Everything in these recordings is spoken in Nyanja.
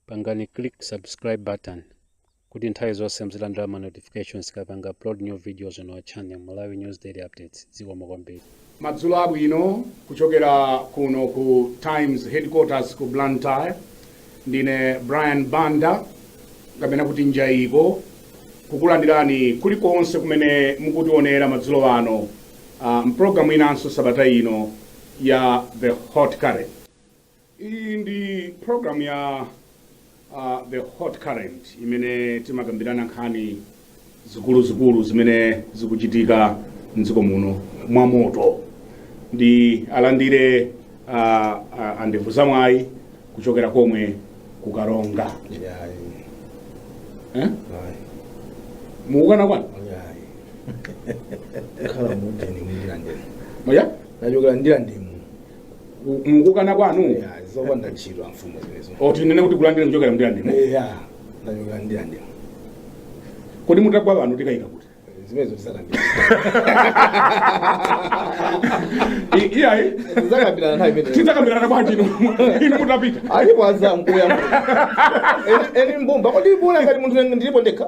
pangani click subscribe button kuti nthawi zonse muzilandira ma notifications tikapanga upload new videos on our channel malawi news daily updates zikomo kwambiri madzulo abwino kuchokera kuno ku times headquarters ku blantyre ndine brian banda kapena kuti njayiko kukulandirani kulikonse kumene mukutionera madzulo ano uh, mu pulogalamu inanso sabata ino ya the hot current Iyi ndi program ya uh, the hot current imene timakambirana nkhani zikuluzikulu zimene zikuchitika mdziko muno mwa moto ndiwalandire uh, uh, a Ndevu Zamwayi kuchokera komwe ku Karonga eh? mukukana kwanu khala munthu ine Ndirandemu eya ndachokera Ndirandemu U- mu- mukukana kwanu Yeah, zopanda ntchito amfumu zimezo o tinene kuti kulandira kuchokera m'Ndirandemo eya ndachokera m'Ndirandemo kodi mutagwa pano tikayika kuti zimenezo tidzakambirana I- iyayi tidzakambirana nthawi imeneyo tidzakambirana bwanji inu inu mutapita alipo azamu kuya eni mbumba kodi mbuna ngati munthu ndilipo ndekha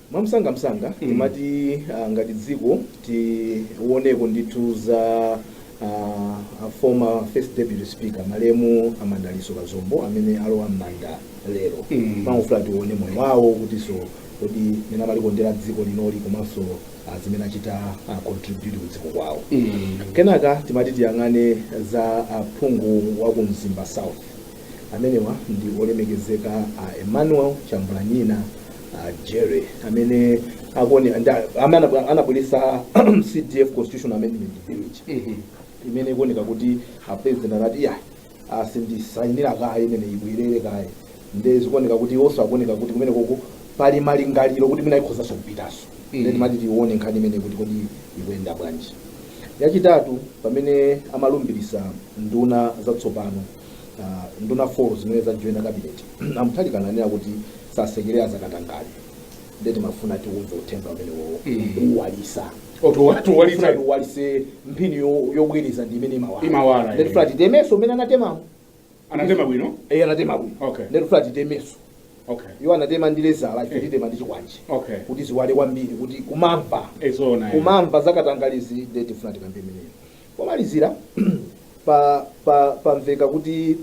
Mwamsangamsanga timati ah, ngati dziko tioneko ndithu za ah, a former first deputy speaker malemu a Madalitso Kazombo amene alowa m'manda lero Mm. timangofuna tione moyo wawo kutinso kodi mmene amalikondera dziko lino-li komanso ah, zimene achita ah, contribute ku dziko lawo kenaka timati tiyang'ane za aphungu wa ku Mzimba South Amenewa ndi olemekezeka a Emmanuel Chambulanyina Jere amene akuone nda- amene anabwe- anabweretsa CDF Constitutional Amendment Bill ija. imene ikuoneka kuti a president anati iyayi sindisayinira kaye ineyo ibwerere kaye nde zikuoneka kuti iwonso akuoneka kuti kumene koko pali malingaliro kuti mwina ikhozanso kupitanso Mhm. nde timati tione nkhani imeneyo kuti kodi ikuyenda bwanji yachitatu pamene amalumbiritsa nduna zatsopano ah, nduna 4 zimene zajoina kabineti a Mutharika ananena kuti sasekerera zakatangale nde timafuna tiumve uthenga umenewo Mm. kuwalitsa oto watu walitsa Fred walitse mphini yo- yobwereza ndi imene Imawala, imawala eh. nde tikufuna titemenso mmene anatemamu anatema bwino iye anatema bwino Okay. nde tikufuna titemenso okay iwo anatema ndi lezala ife titema ndi chikwanje okay kuti ziwale kwambiri kuti kumamva e zoona kumamva zakatangalizi nde tifuna tikambe imeneyo Pomalizira pa pa pamveka kuti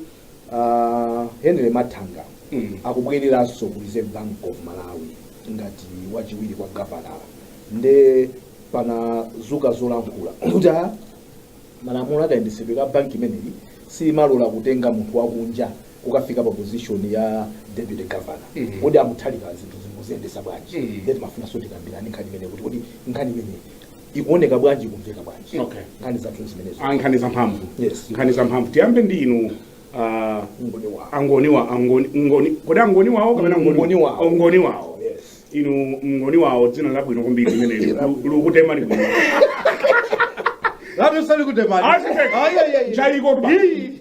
uh, Henry Mathanga mm. akubwereranso ku Reserve Bank of Malawi ngati wachiwiri kwa gavanala nde panazuka zolankhula kuti a malamulo a kayendesedwe ka banki imeneyi samalola kutenga munthu wakunja kukafika pa position ya deputy governor mm -hmm. kodi a Mutharika zinthu akuziyendesa bwanji mm -hmm. nde timafunanso tikambirani nkhani imeneyi kuti kodi nkhani imeneyi ikuoneka bwanji ikumveka bwanji Okay. nkhani zathu zimenezo Ah, nkhani za mphamvu Yes. nkhani za mphamvu tiyambe ndi inu ah, Ngoni wawo. angoni wa angoni ngoni kodi angoni wawo kapena ngoni Ngoni wawo. Oh, ngoni wawo Yes. inu mngoni wawo dzina labwino kwambiri limeneli Li- likutema libwino Lati usali kutemani. Ayi, ayi, ayi. Chaiko tuba. Ii.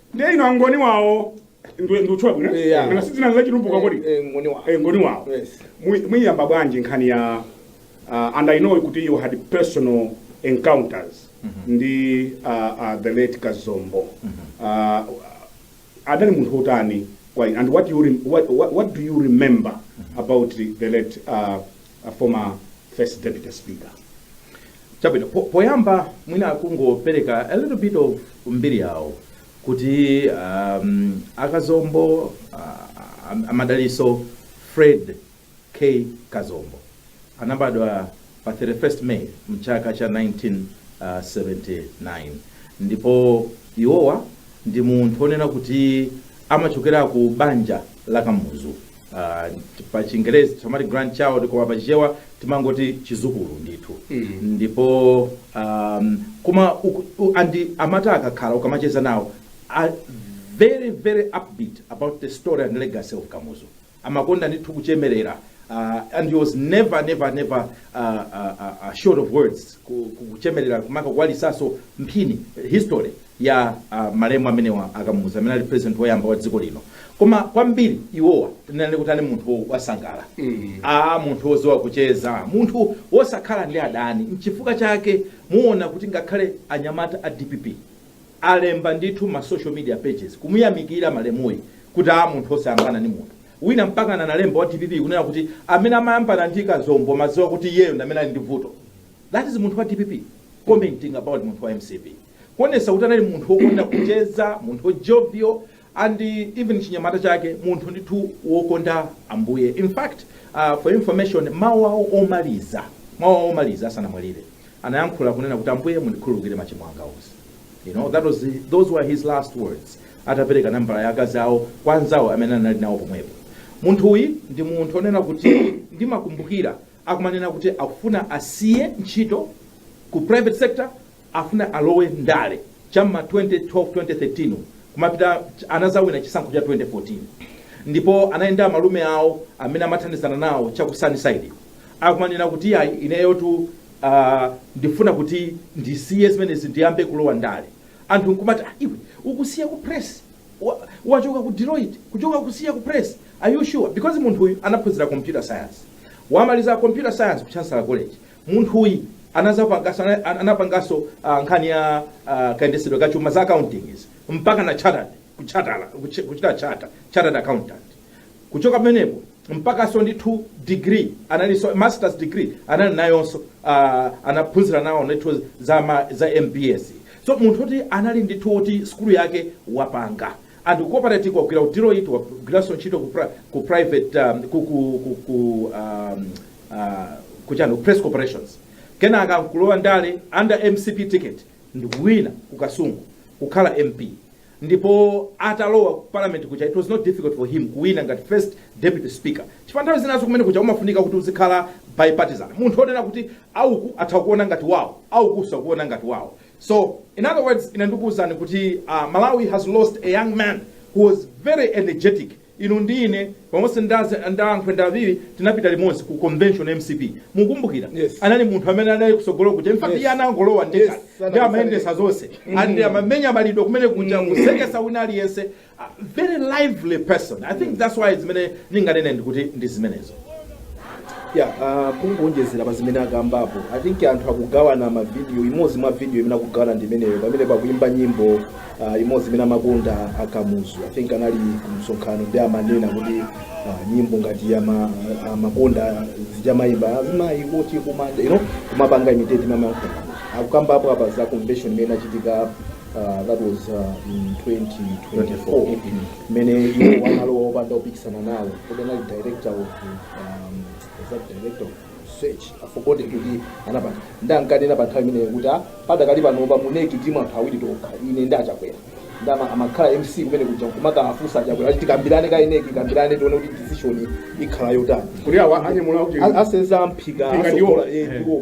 ndiye inu angoni wawo ndi- ndikutchula bwino Eh, yeah. kana sidzina zachitumbuka kodi Eh, ngoni wa. Eh, ngoni wawo Yes. Mui- muiyamba bwanji nkhani ya uh, and i know kuti you had personal encounters ndi uh, uh, the late kazombo uh, adali munthu otani kwa inu and what, you rem- what, what, what do you remember about the late uh, a former first deputy speaker chabwino po- poyamba mwina kungopereka a little bit of mbiri yawo kuti um, akazombo uh, am- amadaliso fred k kazombo anabadwa pa 31st may mchaka cha 1979 ndipo iwowa ndi munthu onena kuti amachokera ku banja la kamuzu Ah, t- pa chingerezi timati grandchild koma pa chichewa timangoti chidzukulu ndithu ndipo um, koma uku- u- andi amata akakhala ukamacheza nawo are very very upbeat about the story and legacy of kamuzu amakonda ndithu kuchemerera uh, and he was never never never uh, uh, uh, uh, short of words ku- ku- kuchemerera kumaka kuwalisa mbiri history ya uh, malemu amenewa a kamuzu amene ali president woyamba wa dziko lino koma kwambiri iwowa tinene kuti ali munthu wo- wosangala mm. a munthu woziwa kucheza munthu wosakhala ndi adani mchifukwa chake muona kuti ngakhale anyamata a dpp alemba ndithu mma social media pages kumuyamikira malemuyi kuti a munthu osayambana ndi munthu wina mpaka analemba wa dpp kunena kuti amene amayambana ndi kazombo muziwa kuti iyeyo ndi amene ali ndi vuto that is munthu wa dpp commenting about munthu wa mcp kuonetsa kuti anali munthu wokonda kucheza munthu wa jovial and even chinyamata chake munthu ndithu wokonda ambuye in fact uh, for information mawu awo omaliza mawu awo omaliza asanamwalire anayankhula kunena kuti ambuye mundikhululukire machimo anga onse you know that was the, those were his last words atapereka nambala ya akazi awo kwa anzawo amene anali nawo pomwepo munthuyi ndi munthu onena kuti ndimakumbukira ankanena kuti akufuna asiye ntchito ku private sector afuna alowe ndale cha mma 2012 2013 umu mmapita ch- anazawina chisankho cha 2014 ndipo anayenda ndi amalume awo amene amathandizana nawo cha ku sunnyside akumanena kuti ayi ineyotu uh, ndifuna kuti ndisiye zimenezi ndiyambe kulowa ndale anthu nkumati "Ah, iwe ukusiya ku press Wa- wachoka ku deloitte kuchoka kusiya ku press are you sure because munthu uyu anaphunzira computer science wamaliza computer science ku chancellor college munthuyi anazapangasa anapanganso uh, nkhani ya uh, kayendetsedwe ka chuma za accounting izi mpaka na chartered kuchatala kuch- kuchita chata chartered accountant kuchoka pamenepo mpakanso ndi 2 degree analinso masters degree anali nayonso uh, anaphunzira nawo ndithu za, ma- za mbs so munthu oti anali ndithu oti skulu yake wapanga and corporate wagwira ku Deloitte wagwiranso ntchito ku, pri, ku private um, ku, ku, ku, ku um, uh, kuchani Press Corporation kenaka nkulowa ndale under mcp ticket ndikuwina ku kasungu kukhala mp ndipo atalowa ku parliament kuja it was not difficult for him kuwina ngati first deputy speaker chifukwa nthawi zinazake kumene kuja umafunika kuti uzikhala bipartisan munthu woti kuti auku atha kuona ngati wawo auku sakuona ngati wawo So in other words ine ndikuwuzani kuti uh, Malawi has lost a young man who was very energetic inu ndi ine pamodzi ndazi- nda a Khwenda a Phiri tinapita limodzi ku convention ya mcp mukumbukira Yes. anali munthu amene anali kutsogolo kuja in fact Yes. iye anangolowa yekha Yes, ndi amayendetsa zonse and amamenya malipenga kumene kuja kuseketsa wina aliyense very lively person i think that's why zimene ndinganene ndikuti ndi zimenezo ya ah, kungonjezera pa zimene akambapo i think anthu akugawana mavidiyo imodzi mwa vidiyo imene akugawana ndi imeneyo pamene pakuimba nyimbo ah, imodzi imene amakonda akamuzu i think anali kumsonkhano ndi amanena kuti ah, nyimbo ngati ama- amakonda zija amayimba azimayi kuti kumanda you know kumapanga imitate mmene akukambapo apa za convention imene inachitika uh, that was uh, in 2024 mmene iwo analowa opanda wopikisana nawo kodi anali director of um, is that director of research after kuti kuti anapanga ndi ankanena pa nthawi imeneyo kuti ah, padakali pano pa mu NEC tili anthu awiri tokha ine ndi achakwera ndi ama- amakhala mc kumene kuja kumakafunsa achakwera achiti kambirane ka NEC kambirane tione kuti decision ikhala yotani kuti awa anyamula kuti A- asenza mphika Mphika ndiwo. asokola eh, Eh. ndiwo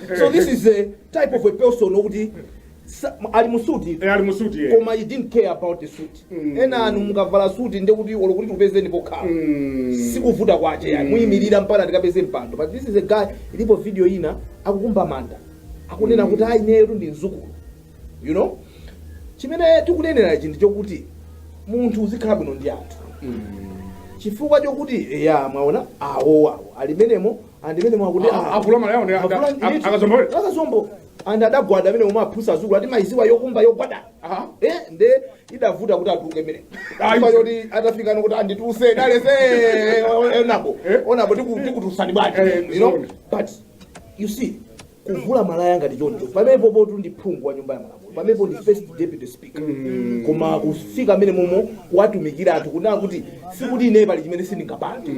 so this is a type of a person okuti sa- ali mu suti Eh, ali mu suti eh. koma he didn't care about the suit Mm. enanu mukavala suti ndekuti olo kuti tikupezeni pokhala Mm. si kuvuta kwake eti muyimirira mpaka tikapeze mpando but this is a guy ilipo video ina akukumba manda akunena kuti ayi ineyotu ndi mzukulu you know chimene tikunenera ichi ndi chokuti munthu uzikhala bwino ndi anthu chifukwa chokuti ya mwaona awo awo ali m'menemo and mmene mwakuti Ah, ah, avula malayawo ndi avula aka- ndithu. akazombo. akazombo and adagwada amene omwe amafunsa azukulu ati mayiziwa yokumba yogwada Ah. eh nde idavuta kuti atuluke mmene Ah, ifa ife. yoti atafika nokuti andidzutse Dalitso honourable Eh. honourable tiku- tikudzutsani bwaji Eh, you know zoona. but you see kuvula malaya ngati choncho pamenepo pomwe ndi phungu wa nyumba ya malamulo pamenepo ndi first deputy speaker koma kufika mmene momo kuwatumikira anthu kunena kuti sikuti ine pali chimene sindingapange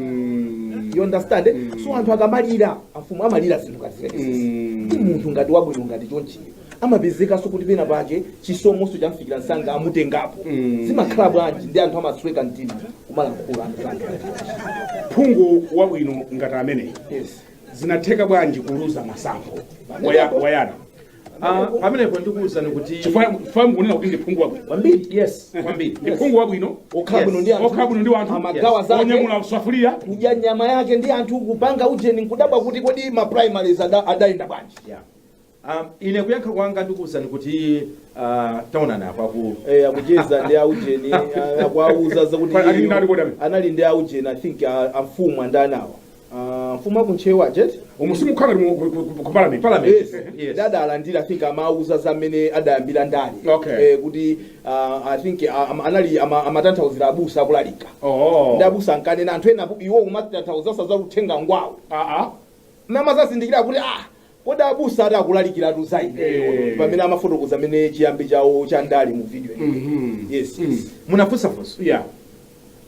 you understand eh? so anthu akamalira amfumu amalira zinthu ngati zimenezi ndi munthu ngati wabwino ngati chonchiyo amapezekanso kuti pena pake chisomonso chamfikira nsanga amutengapo zimakhala bwanji ndiye anthu amasweka mtima kumalankhula anthu ake phungu wabwino ngati ameneyi yes zinatheka bwanji kuluza masankho Waya- wayana Ah, pamenepo ndikuuzani kuti chifukwa chifukwa mukunena kuti ndi phungu wabwino kwambiri yes kwambiri ndi phungu wabwino okhala bwino ndi anthu okhala bwino ndi wanthu amagawa zake onyamula safuliya kudya nyama yake ndi anthu kupanga ujeni nkudabwa kuti kodi ma primaries ada- adayenda bwanji Yeah. Ah, ine kuyankha kwanga ndikuwuzani kuti ah, taonani apa ku Eh, akucheza ndi aujeni ah, akuwauza zakuti Pa- ali iyeyo ndani kodi amene? anali ndi aujeni i think ah, amfumu Dandaula Ah, mfumu aku Ntcheu ajeti umu simukhala ngati mu- ku- ku- ku- ku parliament parliament Yes. Yes. dada alandira i think amauza za mmene adayambira ndale Okay. Eh, kuti ah, i think ah, am- anali ama- amatanthauzira abusa akulalika oh ndi abusa ankanena anthu ena apo- iwo amatanthauzira uthenga ngwawo ah ah amadzazindikira kuti ah Kodi abusa ati akulalikiratu za ifeyo Eh. pamene amafotokoza mmene chiyambi chawo cha ndale mu video iyi? Mhm. yes Mm. yes. munafunsa funso Yeah.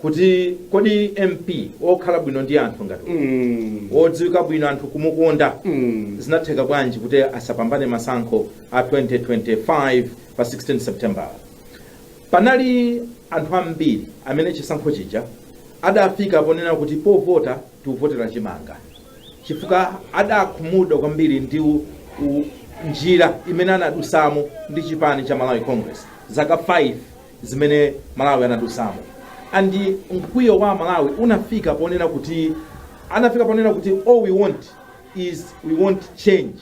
kuti kodi mp okhala bwino ndi anthu ngati uyu, Mm. wodziwika bwino anthu kumukonda Mm. zinatheka bwanji kuti asapambane masankho a 2025 pa 16 september panali anthu ambiri amene chisankho chija adafika ponena kuti povota tikuvotera chimanga chifukwa adakhumudwa kwambiri ndi u- u- njira imene anadusamo ndi chipani cha malawi congress zaka 5 zimene aMalawi anadusamo and mkwiyo wa aMalawi unafika ponena kuti anafika ponena kuti all we want is we want change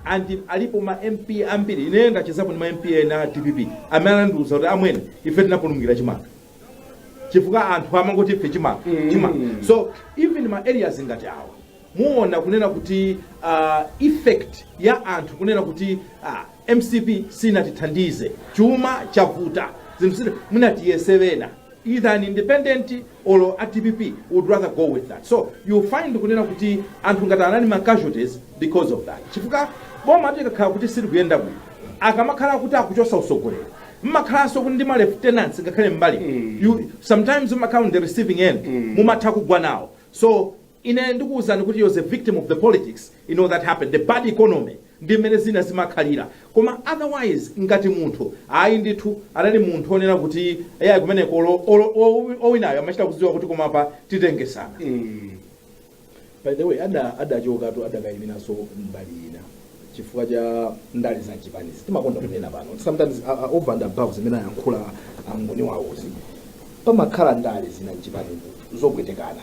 and alipo ma mp ambiri ineyo ndachezapo ndi ma mp ena a dpp amene anandiuza kuti amwene ife tinapulumukira chimanga chifukwa anthu amangoti ife chimanga chimanga so even ma areas ngati awa muona kunena kuti uh, effect ya anthu kunena kuti uh, mcp sinatithandize chuma chavuta zinthu zina tiyese pena either an independent or a dpp would rather go with that so you find kunena kuti anthu ngati awa anali ma casualties because of that chifukwa bomatu likakhala kuti silikuyenda bwino akamakhala kuti akuchosa usogoleri mmakhalanso kuti ndi ma lieutenants am'mbalimbali you sometimes mmakhala on the receiving end mumatha kugwa nawo so Ine ndikuuzani kuti you're a victim of the politics you know that happened the bad economy ndi mmene zinthu zimakhalira koma otherwise ngati munthu ayi ndithu anali munthu onena kuti eya kumeneko olo- olo- owi- owinayo amachita kudziwa kuti koma apa titengesana by the way ada adachokatu adakayiminaso mbali ina chifukwa cha ndale za chipanizi timakonda kunena pano sometimes uh, uh, over and above zimene ayankhula a Gondwe pamakhala ndale zina m'zipanizi zopwetekana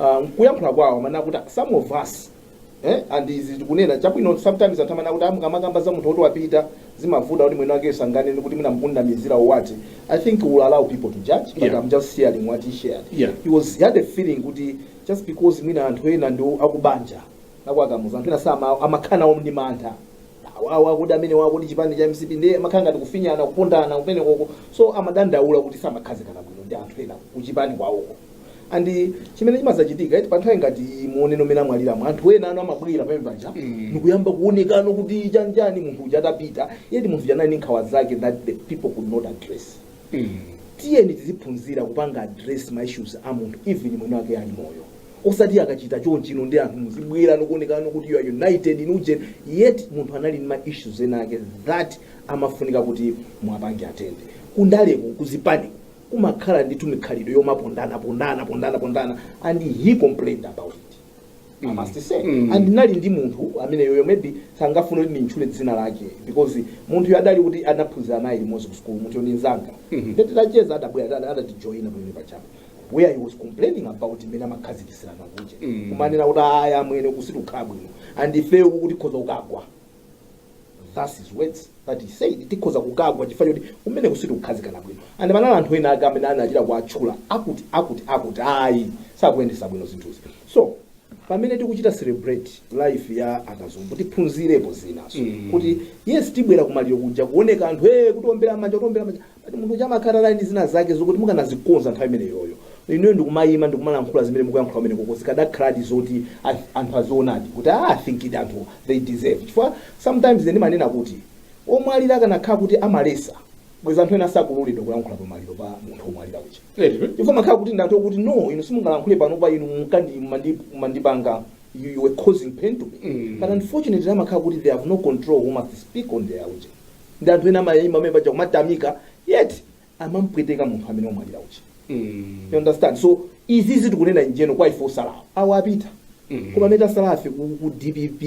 uh, mkuyankhula kwawo amanena kuti some of us eh, and izi tikunena chabwino sometimes anthu amanena kuti mukamakamba za munthu woti wapita zimavuta kuti mwini wakeyo sanganene kuti mwina mukundinamizira awati i think we will allow people to judge but Yeah. i'm just sharing what he shared Yeah. he was he had a feeling kuti just because mwina anthu ena ndi akubanja la kwa Kamuzu anthu ena sama amakhala om ndi mantha awawa kuti amenewa kuti chipani cha mcp ndiye amakhala ngati kufinyana kupondana kumenekoko so amadandaula kuti samakhazikana bwino ndi anthu ena kuchipani kwawoko and chimene chimazachitika eti panthawi ngati iyi muoneno mmene amwaliramu anthu ena anu amabwera pamene paja Mm. ndikuyamba kuonekano kuti chanichani munthu uja atapita yet munthu uja anali ndi nkhawa zake that the people could not address Mm. tiyeni tiziphunzira kupanga address ma issues a munthu even mwene wake ali moyo osati akachita chonchino ndi anthu muzibwera ndikuonekano kuti you are united in uje yet munthu anali ndi ma issues ena ake that amafunika kuti muwapange atende kundaleko kuzipani kumakhala ndithu mikhalidwe yomapondana pondana pondana pondana and he complained about it I must say and ndinali ndi munthu ameneyoyo maybe sangafune kuti ndintchule dzina lake because munthuyo adali kuti anaphunzira naye limodzi ku school munthuyo ndi nzanga ndiye titacheza adabwera ada- adatijoina pamenepajapa where he was complaining about mmene amakhazikitsirana kuja kumanena kuti ayi amwene sitikukhala bwino and ifeyo tikhoza kukagwa That's his words that he said tikhoza kukagwa chifukwa chakuti kumeneko sitikukhazikana bwino and panali anthu ena ake amene anachita kuwatchula akuti akuti akuti ayi sakuyendesa bwino zinthuzi so pamene tikuchita celebrate life ya a Kazombo tiphunzirepo zinaso kuti yes tibwera kumaliro kuja kuoneka anthu e kutiombera manja kutiombera manja Yet munthu uja amakhala anali ndi zina zake zokuti mukanazikonza nthawi imeneyoyo, inuyo ndikumayima ndikumalankhula zimene mukuyankhula kumenekoko zikadakhaladi zoti ath anthu azionadi kuti aah I think anthu they deserve chifukwa sometimes ine ndimanena kuti omwalira akanakhala kuti amaletsa bwezi anthu ena sakuloledwa kulankhula pa maliro pa munthu omwalira uja Eti? chifukwa amakhala kuti ndi anthu okuti no inu simungalankhule panopa inu mukandi mumandi- mumandipanga you, you were causing pain to me Mm. but unfortunately amakhala kuti they have no control who must speak on their uja ndi anthu ena amayima pamenepaja kumatamika yet amampweteka munthu amene wamwalira uja you understand so izizi tikunena ndiyeno kwa ife otsala awo apita koma amene tatsalafe ku, ku dpp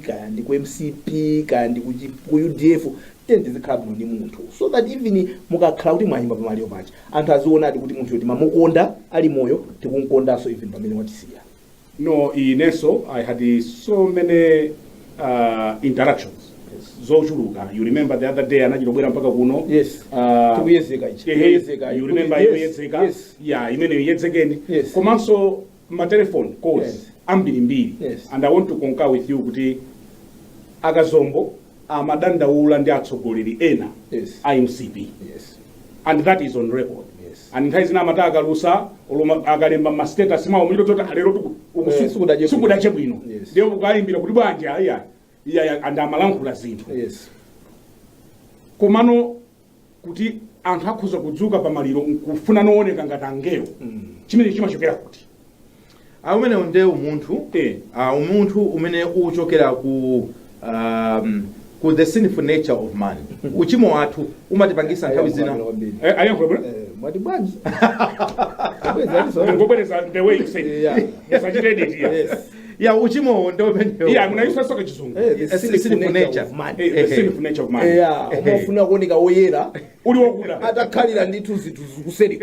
kaya ndi ku mcp kaya ndi ku, G- ku udf tiyeni tizikhala bwino ndi munthu so that even mukakhala kuti mwayima pamaliro paja anthu azionadi kuti munthuyo timamukonda ali moyo tikumkondanso even pamene watisiya No, inenso I had so many uh, interactions zochuluka you remember the other day anachita kubwera mpaka kuno Yes. uh, Tikuyezeka ichi. ehe, Tikuyezeka. you remember Yes. yoyedzeka Yes. ya imeneyo yedzekeni Yes. komanso matelephone calls Yes. ambirimbiri Yes. and i want to concur with you kuti akazombo amadandaula ndi atsogoleri ena yes. a mcp yes. and that is on record yes. and nthawi zina amati akalusa akalemba ma status mawo umangodziwa zoti lero sikudache bwino ndiye ukayimbira kuti bwanji iya iya and amalankhula zinthu yes. komano kuti anthu akhoza kudzuka pa maliro nkufuna kuoneka ngati angelo chimene chimachokera kuti Ah, umenewo nde umunthu Eh. Ah, umunthu umene uchokera ku um, ku the sinful nature of man uchimo wathu umatipangisa nthawi zina Eh, ayankhula bwana mwati bwanji Bwezi aliso. ngobwereza the way you say Yeah. musachite edit ya Yes. ya uchimowo ndi umenewo yeah munayisa so ka chizungu Eh, the Sinifu sinful nature nature. of man. Eh, the sinful nature of man. Yeah, umafuna kuoneka woyera uli wakuda atakhalira ndithu zinthu zikuseri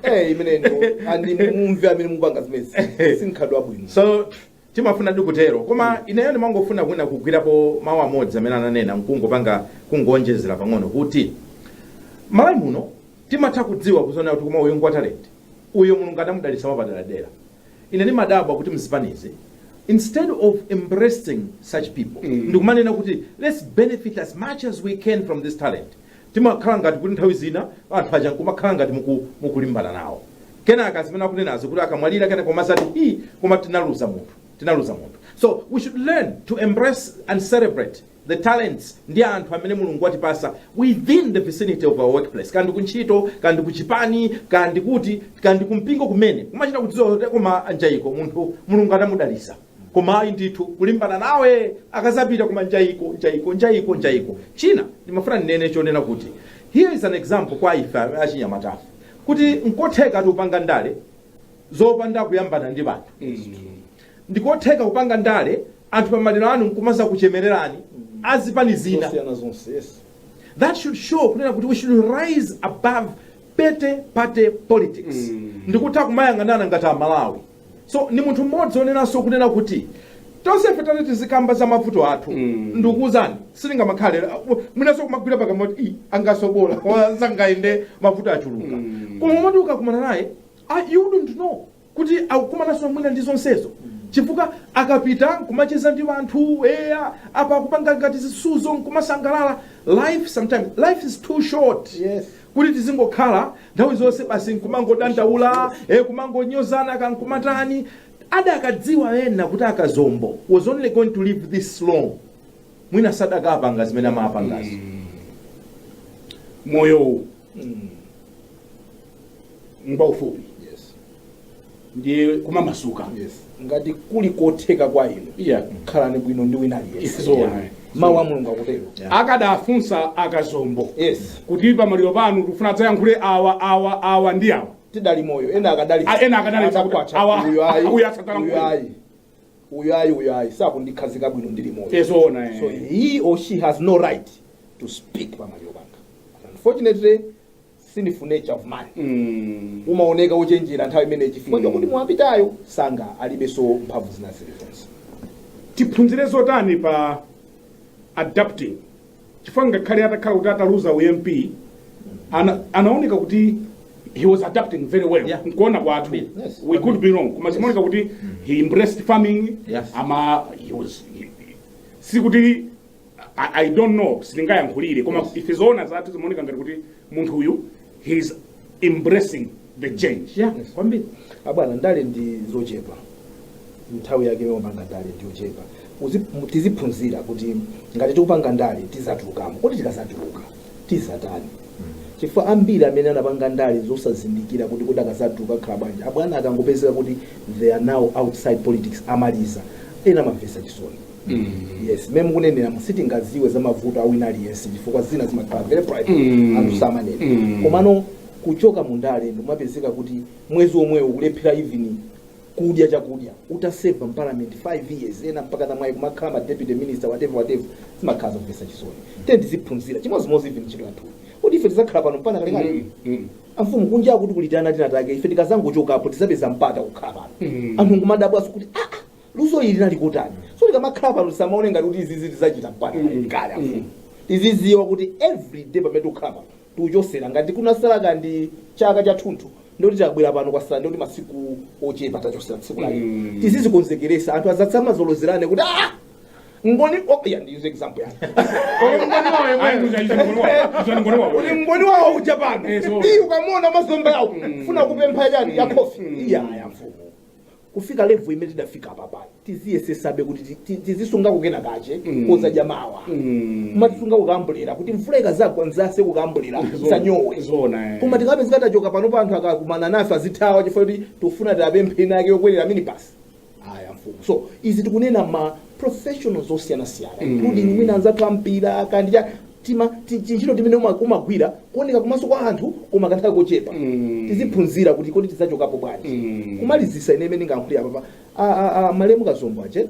Eh, imene ndo andimve amene mupanga zimenezi simukhala bwino so timafuna ndi kutero koma ineyo ndimangofuna kwina kugwirapo mawu amodzi amene ananena nkungopanga kungonjezera pang'ono kuti malawi muno timatha kudziwa kuziwona kuti koma uyu ngwa talenti uyo mulungu adamudalitsa mwapaderadera Ine ndimadabwa kuti mzipanizi instead of embracing such people nkumanena kuti let's benefit as much as we can from this talent timakhala ngati kuti nthawi zina anthu aja nkumakhala ngati muku- mukulimbana nawo kenaka zimene akunenazi kuti akamwalira kenaka umazati hi koma tinaluza munthu tinaluza munthu so we should learn to embrace and celebrate the talents ndi anthu amene mulungu watipasa within the vicinity of our workplace kaya ndi kuntchito kaya ndi kuchipani kaya ndi kuti kaya ndi kumpingo kumene kumachita kudziwa kuti koma njayiko munthu mulungu anamudalisa koma ayi ndithu kulimbana nawe akazapita koma njayiko njayiko njayiko njayiko china ndimafuna ndinene chonena kuti here is an example kwa ife achinyamatafe kuti nkotheka kupanga ndale zopanda kuyambana ndi anthu ndikotheka kupanga ndale anthu pa maliro anu nkumazakuchemererani azipani zina zosiyana zonse yes that should show kunena kuti we should rise above petty party politics mm. ndikutha kumayang'anana ngati amalawi so ni munthu mmodzi onenanso kunena kuti tonse ife tati tizikamba za mavuto athu mm. ndikuwuzani sitingamakhale mwinanso kumagwira pakamwa kuti "Ii, angasobola koma sangayende mavuto achuluka mm. koma moti ukakumana naye ah, you wouldn't know kuti akukumananso mwina ndi zonsezo chifukwa akapita nkumacheza ndi anthu eya apa akupanga ngati zisuzo nkumasangalala life sometimes life is too short Yes. kuti tizingokhala nthawi zonse basi nkumangodandaula eh, kumangonyozana kankumatani adakadziwa ena kuti akazombo was only going to live this long mwina sadakapanga zimene amapangazo moyowu ngwaufupi Yes. ndiye kumamasuka Yes. ngati kuli kotheka kwa inu Yeah. khalani bwino ndi wina aliyense Zoona. Yeah. mawu a mulungu akutero Yeah. akadafunsa akazombo yes kuti pamaliro panu tikufuna adzayankhule awa awa awa ndi awa adali moyo ena akadali Ah, ena akadali Atakwacha. awa- Uyu ayi. uyu asatana Uyu mkulu. ayi uyu ayi uyu ayi sankandikhazika bwino ndili moyo Eh, zoona, eh. so he or she has no right to speak pamaliro panga unfortunately it's the nature of man Mm. timaoneka ochenjera nthawi imeneyi chifukwa Mm. chokuti wapitayo sanga alibenso mphamvu zina zilizonse tiphunzire zotani pa adapting chifukwa ngakhale atakhala kuti ataluza uMP ana, anaoneka kuti he was adapting very well Yeah. nkuona kwathu Yes. we could be wrong koma zimaoneka kuti he embraced farming Yes. ama he was he, sikuti I, I don't know sitingayankhulire koma ife zoona zathu zimaoneka ngati kuti munthu uyu he's embracing the change yeah kwambiri abwana ndale ndi zochepa nthawi yake yomapanga ndale ndi yochepa Uzi- mu- tiziphunzira kuti ngati tikupanga ndale tizatulukamo kodi tikazatuluka tizatani chifukwa ambiri amene anapanga ndale osazindikira kuti kodi akazatuluka akhala bwanji bwana akangopezeka kuti they are now outside politics amaliza ena amamvesa chisoni yes mmene mukuneneramu sitingadziwe za mavuto a wina aliyense chifukwa zina zimakhala very private Mm. anthu samanena Mm. komano kuchoka mu ndale nkumapezeka kuti mwezi omwewo kulephera even kudya chakudya utaseva m'parliament 5 years ena mpaka amwayi kumakhala ma deputy minister whatever whatever zimakhala zomvetsa chisoni nde tiziphunzira chimodzimodzi even ntchito yathu kuti ife sitizakhala pano mpaka kalekale amfumu kunja kuno kutiitana tinatake ife tikazangochokapo tizapeza mpata kukhala pano Mm. anthu nkumadabwaso kuti ah, ah, Luso ili linali kotani? So tikamakhala pano tisamaone ngati kuti izizi tizachita mpaka Mm. kalekale. Mm. Tiziziwa kuti every day pamene tikukhala pano tikuchosera ngati kunasala kaya ndi chaka chathunthu ndekuti tabwera pano kwasala ndekuti masiku ochepa tachosera tsiku lake. Mm. Tizizikonzekeresa anthu asamazalozerane kuti ah ngoni oh, yeah, ndi use example ya. Ayi, muzayiza mkono wako. Uzani mkono wako. Uli ngoni wawo uja pano. Eh, so- Ndi ukamona mazomba yawo. Funa kupempha chani ya coffee. Iya ya mfumu. kufika level imene tidafika apapa tiziyesesabe kuti ti- ti- tizisungako kena kache Mm. kozadya mawa Mm. kumatisunga kukumbukira kuti mvula ikazagwa nzase kukumbukira Zo- sanyowe zona eh. koma tikapeza tikachoka pano pa anthu akakumana nafe azitithawa chifukwa kuti tofuna tiapemphe ina yake yokwerera minibus Iya mfumu so izi tikunena ma professionals osiyanasiyana Mm. including mwina anzathu ampira kandija tima ti- tintchito timene uma- umagwira kuoneka kumaso kwa anthu koma kanthawi kochepa Mm. tiziphunzira kuti kodi tidzachokapo bwanji Mm. kumalizitsa ine imene ndingayankhulira papa A- a- a- malemu kazombo ache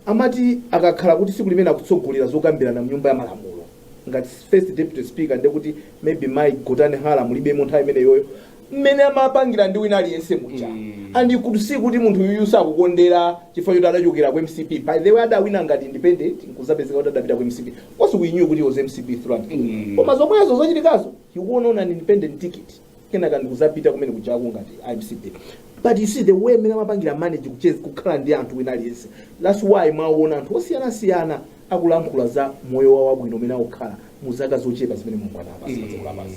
amati akakhala kuti siku limene akutsogolera zokambirana mnyumba ya malamulo ngati first deputy speaker ndekuti maybe mai gotani hara mulibemo nthawi imeneyoyo mmene amapangira ndi wina aliyense muja and you could see kuti munthu uyuyu sakukondera chifukwa choti adachokera ku mcp by the way adawina ngati independent nkuzapezeka kuti adapita ku mcp cause we knew kuti he was mcp through and through koma zomwezo zochitikazo he won on an independent ticket kenaka ndikuzapita kumene kujako ngati mcp but you see the way mmene amapangira manage kucheza kukhala ndi anthu wina aliyense that's why mwaona anthu osiyanasiyana akulankhula za moyo wawo wabwino umene akukhala mu zaka zochepa zimene mulungu anawapasa padziko lapansi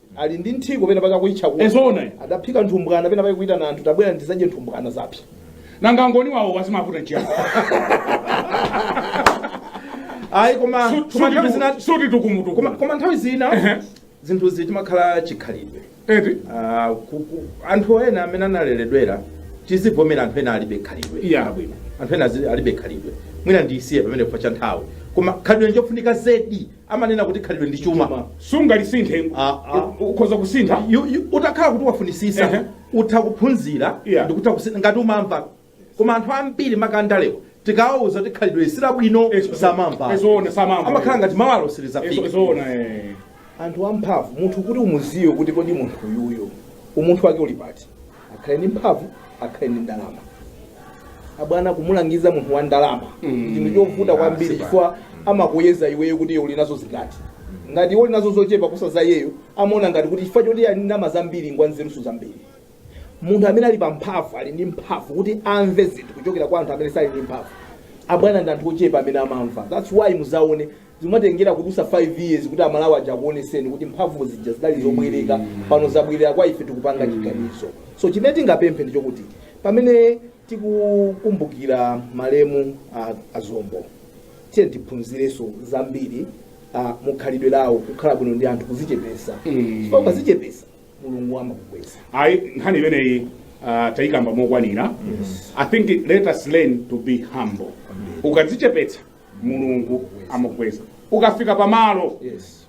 Ali ndi nthiko pena pake akuitcha kuno. Eh, zoona eh. Adaphika nthumbwana pena pake kuitana anthu tabwerani dzadye nthumbwana zapsa. Nanga ngoni wawo wazimavuta nchiyani? Ayi koma Su- koma suti nthawi zina suti tukumutuku. koma koma nthawi zina Ehe. zinthu izi timakhala chikhalidwe. Eti? Ah, ku- ku- anthu ena amene analeredwera tizivomera anthu ena alibe khalidwe Iya abwino. anthu ena azi- alibe khalidwe mwina ndisiye pamene chifukwa cha nthawi koma khalidwe njofunika zedi amanena kuti khalidwe ndi chuma Chuma. sungalisinthe Ah, ah. U- ukhoza kusintha You- you- utakhala kuti wafunisisa Ehe. utha kuphunzira Yeah. ndikutha kusintha ngati umamva koma anthu ambiri maka andalewa tikawauza kuti khalidwe silabwino Eso- samamva ezoona samamva. amakhala ngati mawa lo Ezo- silizafika ezoona eh. anthu amphamvu munthu kuti umudziwe kuti kodi munthu uyuyo umunthu wake uli pati akhale ndi mphamvu akhale ndi ndalama abwana kumulangiza munthu wa ndalama Mm. chinthu chovuta kwambiri Sipa. chifukwa amakuyeza iweyo kuti iwe uli nazo zingati ngati iwe uli nazo zochepa kuposa za iyeyo amaona ngati kuti chifukwa choti ali ndi ndalama zambiri ngwa nzeruso zambiri munthu amene ali pamphamvu ali ndi mphamvu kuti amve zinthu kuchokera kwa anthu amene alibe mphamvu abwana ndi anthu ochepa amene amamva that's why muzaone Zimatengera kudusa 5 years kuti amalawi aja akuoneseni kuti mphamvu zija zidali zobwereka pano zabwerera kwa ife tikupanga chiganizo so chimene tingapemphe ndichokuti pamene tikukumbukira malemu a, a kazombo tiyeni tiphunzireso zambiri a, mukhalidwe lawo kukhala bwino ndi anthu kuzichepesa Mm. so ukazichepesa mulungu amakukweza ayi nkhani imeneyi ah, tayikamba mokwanira i think let us learn to be humble ukadzichepetsa mulungu amakweza ukafika pamalo Yes.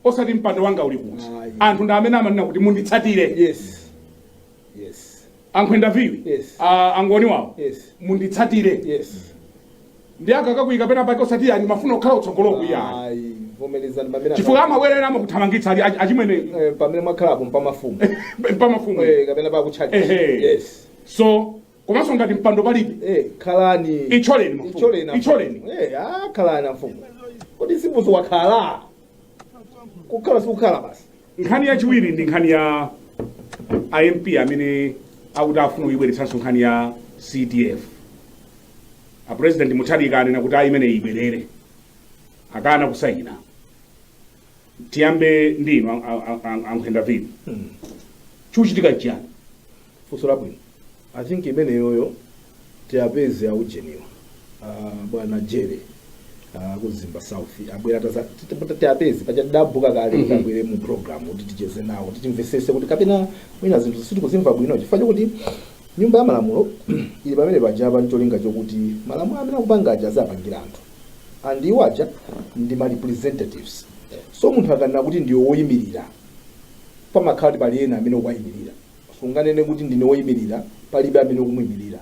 osati mpando wanga uli kuti Ayi. anthu ndi amene amanena kuti munditsatire Yes. Yes. ankhwenda viwi Yes. ah, angoni wawo Yes. munditsatire Yes. nde akakakuika pena pake osati iyayi mafuna kukhala kutsogolo kuya Ayi. Vomerezani pamene chifukwa amabwerera amakuthamangitsa ali ach- achimwene Eh, pamene mwakhalapo pa mafumu. pamafumu Eh, kapena pa kutchalitchi. Ehe. Yes. so komanso ngati mpando palibe Eh, khalani Itcholeni mafumu. Itcholeni mafumu. Itcholeni. Eh, ah, khalani afumu kodi sibuso wakhala kukhala sikukhala basi nkhani yachiwiri ndi nkhani ya a MP amene akuti afuna kuyibweretsanso nkhani ya cdf apresident mutharika anena kuti ayi imeneyi ibwerere akana kusayina tiyambe ndi inu ankhwenda viwi chikuchitika chiyani Funso labwino. I think imeneyoyo tiapeze a ujeniwa uh, bwana jere uh, ku mzimba south abwera taza- tita- tita- tiapeze paja tidabhuka kale Mhm. tabwere mu program kuti ticheze nawo kuti timvesese kuti kapena mwina zinthu sitikuzimva bwino chifukwa chokuti nyumba ya malamulo ili pamene paja ncholinga chokuti malamulo amene akupanga aja akupangira anthu and iwo aja ndi ma representatives so munthu akanena kuti ndiwo woyimirira pamakhala kuti pali ena amene akuwayimirira sunganene kuti ndine woimirira palibe amene ukumuimirira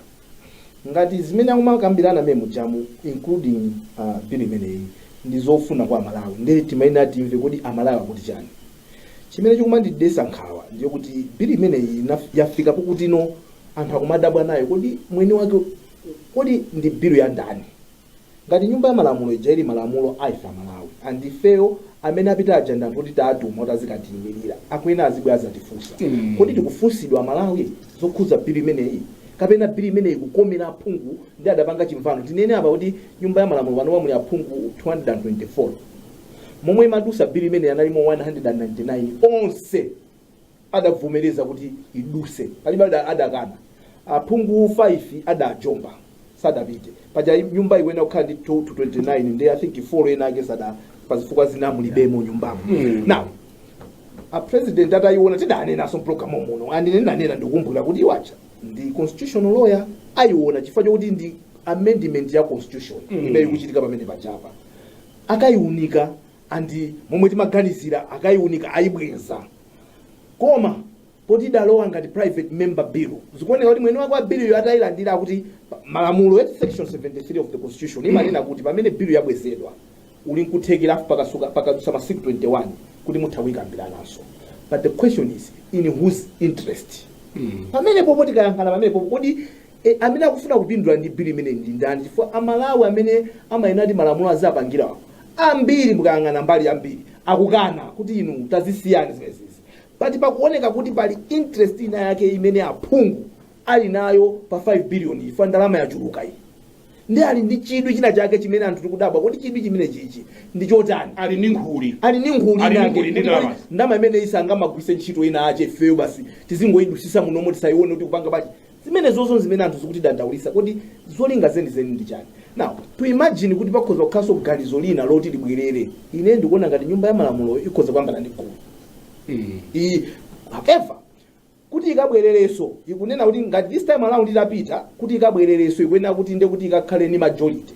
ngati zimene akumakambirana mmene mujamu including uh, bill imeneyi ndi zofuna kwa amalawi ndiye timayenera timve kuti amalawi akuti chani chimene chikumandidesa nkhawa ndi chokuti bill imeneyi inaf- yafika pokutino anthu akumadabwa nayo kodi mwini wake kodi ndi bill ya ndani Ngati nyumba ya malamulo ija ili malamulo ya ife amalawi and ifeyo amene apita aja ndi anthu oti taatuma oti azikatiimilira akuyenera azibwera azatifunsa kodi tikufunsidwa amalawi zokhuza bill imeneyi kapena bill imeneyi ikukomera aphungu nde adapanga chimvano tinene apa kuti nyumba ya malamulo panopa muli aphungu 224 momwe imadusa bill imeneyi analimo 199 onse adavomereza kuti iduse palibe ada- adakana aphungu 5 adajomba sadapite paja nyumba iyenera kukhala ndi 229 ndi i think 4 ena ake sada pazifukwa zina mulibemo nyumbamo Mm. now a president atayiona tidanenaso mpulogalamu muno and ine nanena ndikumbukira kuti iwo aja ndi constitutional lawyer ayiona chifukwa chokuti ndi amendment ya constitution Mm. imene ikuchitika pamene pajapa akayiunika and momwe timaganizira akayiunika ayibweza koma poti idalowa ngati private member bill zikuoneka kuti mwene wake wa bill yo atayilandira akuti pa- malamulo ya section 73 of the constitution imanena kuti pamene bill yabwezedwa uli nkuthekera afu pakasuka pakadutsa masiku 21 kuti mutha kuyikambirananso but the question is in whose interest pamenepo poti tikayankhana pamenepo kodi E, amene akufuna kupindula ndi bili imeneyi ndi ndani chifukwa amalawi amene amayenera kuti malamulo azawapangirewo ambiri mukayang'ana mbali yambiri akukana kuti inu tazisiyani zimenezizi pati pakuoneka kuti pali interest ina yake imene aphungu ali nayo pa 5 billion iyi chifukwa ndalama yachuluka iyi ndi ali ndi chidwi china chake chimene anthu tikudabwa kuti chidwi chimenechichi ndi chotani ali ndi nkhuli ali ndi nkhuli Ali ndi inake nkhuli, ndi kuti ndalama. ndalama imene isamagwire ntchito ina yake ifeyo basi tizingoidusisa munomo tisayione kuti kupanga bati Zimenezozo nzimene anthu zikutidandaulitsa, kodi zolinga zenizeni ndi chani? Now to imagine kuti pakhoza kukhalanso ganizo lina loti libwerere, ine ndikuona ngati nyumba ya malamuloyo ikhoza kuyambana ndi gulu iyi however kuti ikabwerereso ikunena kuti ngati this time around itapita kuti ikabwerereso ikuyenera kuti nde kuti ikakhale ndi majority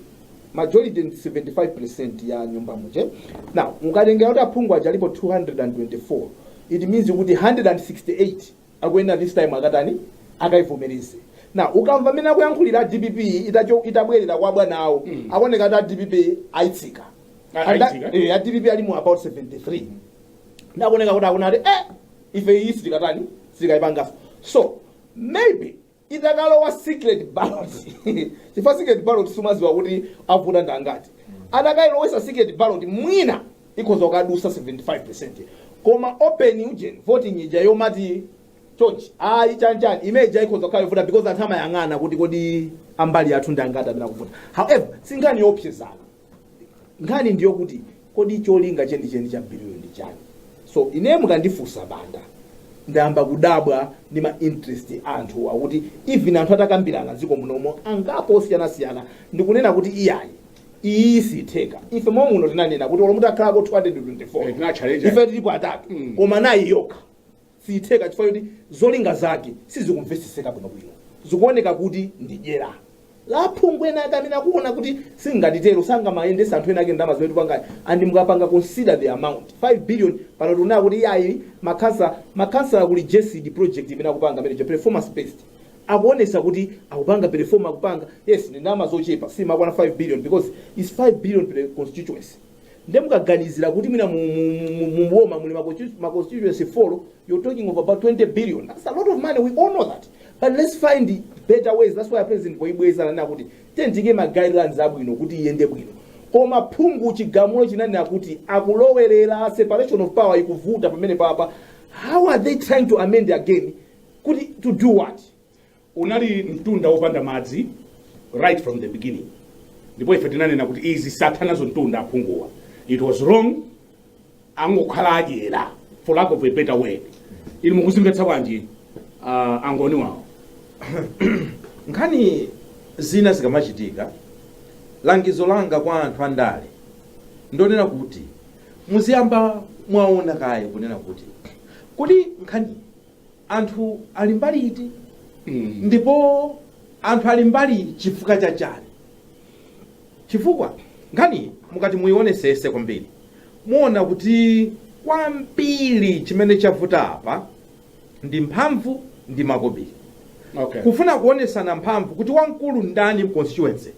majority ndi 75% ya nyumba muja now mukatengera kuti aphungu aja alipo 224 it means kuti 168 akuyenera this time akatani akaivomereze nde ukamva mmene akuyankhulira a dpp itacho- itabwerera kwa bwana awo Mm. akuoneka ati a dpp ayitsika A- And that- ayitsika? eh, a dpp ali mu about 73 nde akuoneka kuti akunena kuti eh ife iyi sitikatani sitikayipangaso so maybe idakalowa secret ballot chifukwa secret ballot sumaziwa kuti avota ndi angati adakailowesa secret ballot mwina ikhoza kukadusa 75 koma open ujeni voting ija yomati chonchi ayi chanchani imene ija ikhoza kukhala yovuta because anthu amayang'ana kuti kodi ambali athu ndi angati amene akuvota however sinkhani yoopsezana nkhani ndiyo kuti kodi cholinga chenicheni cha biliyo ndi chani so ine mukandifunsa banda ndayamba kudabwa ndi ma interest a anthu oti even anthu atakambirana dziko munomo angapo osiyanasiyana ndikunena kuti iyayi iyi sitheka ife momwe muno tinanena kuti olo mutakhalako 224 Eh, tinachallenge. ife tilipo atatu Mm. koma iyi yokha siitheka chifukwa choti zolinga zake sizikumveseseka bwino bwino zikuoneka kuti ndi dyera la aphungu ena ake amene akuona kuti tikatero sangamayendetse anthu ena ake ndalama zimene tipangazi and mukapanga consider the amount 5 billion pano tikunena kuti iyayi makhansala makhansala kuli GESD project imene akupanga imene ya performance based akuonesa kuti akupanga perform akupanga yes ndi ndalama zochepa siimakwana 5 billion because its 5 billion per constituency nde mukaganizira kuti mwina mu- mu- mu- mu boma muli ma constitu- ma constituency four you're talking of about 20 billion that's a lot of money we all know that but let's find better ways that's why a president poibweza nanena kuti tiike ma guidelines abwino kuti iyende bwino koma phungu chigamulo chinanena kuti akulowerera separation of power ikuvuta pamene papo how are they trying to amend again kuti to do what Unali mtunda wopanda madzi right from the beginning ndipo ife tinanena kuti izi satha nazo mtunda aphunguwa it was wrong angokhala adyera for lack of a better word inu mukuziona bwanji a Ngoni wawo nkhani zina zikamachitika langizo langa kwa anthu andale ndonena kuti muziyamba mwaona kaye kunena kuti kodi nkhani anthu ali mbali iti ndipo anthu ali mbali chifukwa cha chani chifukwa nkhani mukati muyionesese kwambiri muona kuti kwambiri chimene chavuta apa ndi mphamvu ndi makobiri okay kufuna kuonesana mphamvu kuti wamkulu ndani mconstituency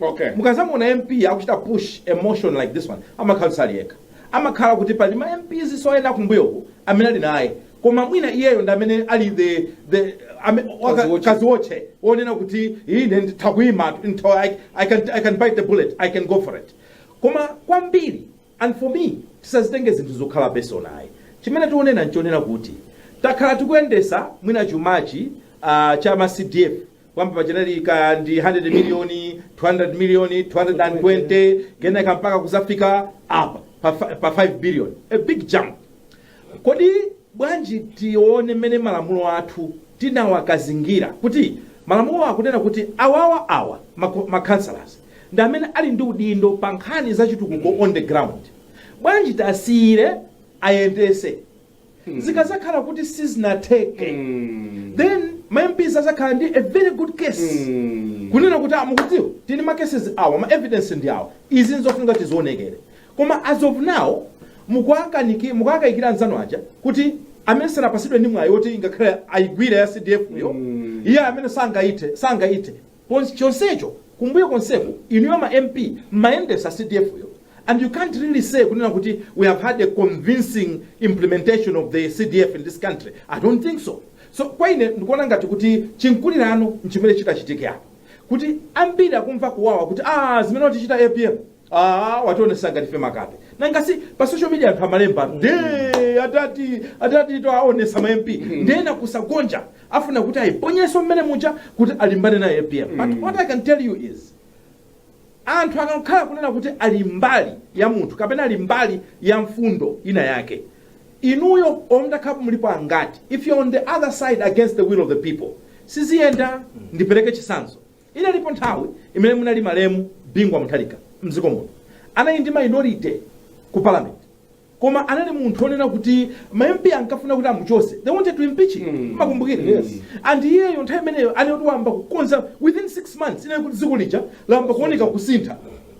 okay mukazamuona mp akuchita push a motion like this one amakhala kuti sali yekha amakhala kuti pali ma mps so ena kumbuyoku amene ali naye koma mwina iyeyo ndi amene ali the the ame- waka- Kaziwotche. kaziwotche wonena kuti ine ndi nditha kuima ntho I, I, can, i can bite the bullet i can go for it koma kwambiri And for me tisazitenge zinthu zokhala personal ayi chimene tikunena nchonena kuti takhala tikuyendesa mwina chumachi uh, cha ma CDF kuyamba pachinali kaya ndi 100 million 200 million 220 kenaka mpaka kuzafika apa pa, fi- pa 5 billion a big jump kodi bwanji tione mmene malamulo athu tinawakazingira kuti malamulo akunena kuti awawa awa mako- ma councillors ndi amene ali ndi udindo pa nkhani za chitukuko on the ground bwanji tiwasiyire ayendese zikazakhala kuti sizinatheke then ma mps azakhala ndi a very good case kunena kuti ah mukudziwa tili ndi ma cases awa ma evidence ndi awa izi nzofunika tizionekeso koma as of now mukuakaniki mukuakayikira anzanu aja kuti amene sanapatsidwe ndi mwayi woti ngakhale ayigwire ya cdf yo iye amene sangayithe sangayithe chonsecho kumbuyo konseku inuyo ma MP mmayendesa CDF yo and you can't really say kunena kuti we have had a convincing implementation of the CDF in this country, I don't think so. So kwa ine ndikuona ngati kuti chimkulirano nchimene chikuchitika apa kuti ambiri akumva kuwawa kuti ah zimene watichita APM Ah, wationesa ngati ife makape nanga si pa social media anthu amalemba nde atati atati tawaonesa ma mp nde kusagonja afuna kuti ayiponyeso mmene muja kuti alimbane naye apm but what i can tell you is anthu akakhala kunena kuti ali mbali ya munthu kapena ali mbali ya mfundo ina yake inuyo olo mutakhalapo mulipo angati if you're on the other side against the will of the people siziyenda ndipereke chisanzo Inalipo nthawi imene munali malemu Bingu wa Mutharika mdziko muno. Anali ndi minority ku parliament koma anali munthu onena kuti ma MP ankafuna kuti amuchose. They wanted to impeach him. Mm. Makumbukire. Yes. And iyeyo nthawi imeneyo anali kuti wayamba kukonza within 6 months inali kuti dziko lija layamba kuoneka kusintha.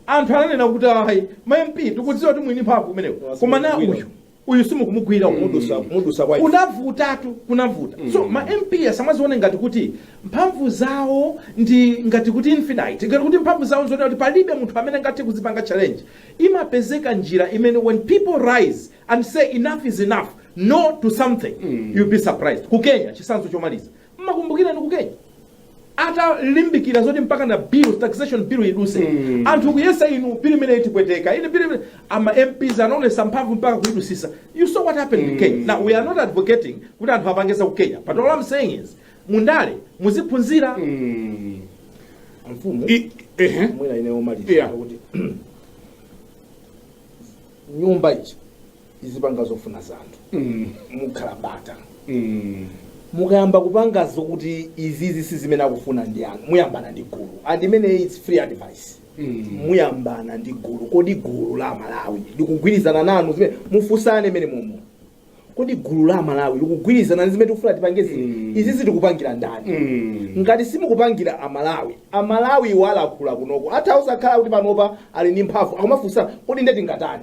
Anthu ananena kuti ayi ma MP tikudziwa kuti muli ndi mphamvu zimenezo. Koma na uyu uyu simukumugwira uyu Mudutsa, mudutsa kwa ife. kunavutatu kunavuta so ma mp asamazione ngati kuti mphamvu zawo ndi ngati kuti infinite ngati kuti mphamvu zawo nzoti kuti palibe munthu amene angathe kuzipanga challenge imapezeka njira imene when people rise and say enough is enough no to something you'll be surprised ku kenya chitsanzo chomaliza Mmakumbukira inu ku Kenya atalimbikira zoti mpaka bill taxation bill idutse mm. anthu kuyesa inu bill imene itipweteka ife bill imene ma MPs anaonesa mphamvu mpaka kuidutsitsa you saw what happened mm. in Kenya now we are not advocating kuti anthu apange za ku Kenya but all I'm saying is mundale muziphunzira mm. mfumu I, eh, mwina ine omaliza yeah. kuti nyumba ichi izipanga zofuna za anthu Mm. mukhala bata Mm. mukayamba kupanga zokuti izizi si zimene akufuna anthu anu muyambana ndi gulu and imeneyi its free advice Mm. muyambana ndi gulu kodi gulu la malawi likugwirizana nanu zimene mufunsane mmenemomo kodi gulu la malawi likugwirizana ndi zimene tikufuna tipange zino Mm. izizi tikupangira ndani Mm. ngati simukupangira amalawi amalawi iwo alankhula kunoko atha osakhala kuti panopa ali ndi mphamvu akumafunsana kodi nde tingatani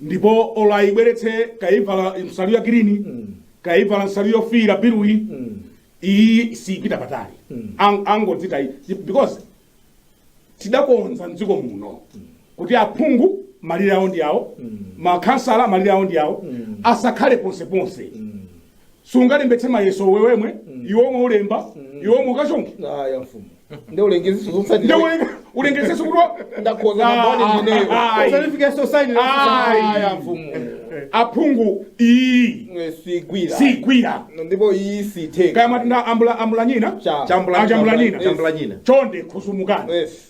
ndipo olo ayibweretse kaya ivala nsalu ya girini kaya ivala nsalu yofiira biluyi iyi siyipita patali Ang- angoidziwa iyi because tidakonza mdziko muno kuti aphungu malire awo ndi awo makhansala malire awo ndi awo asakhale ponseponse sungalembetse mayeso iwe wemwe iwe omwe ulemba iwe omwe ukachonge aya mfumu nde ulengezenso zotsatira nde ulengezenso kuti wa- ndakhoza Ah, maboni ah, imeneyo ah, ah, Usanifikia society na Ai. aya mfumu aphungu iyi Eh, sigwira sigwira ndipo iyi sitheka kaya matinda ambula ambulanyina Cha. Chambula- Ah, chambulanyina. chambulanyina. chonde khudzumukani Yes.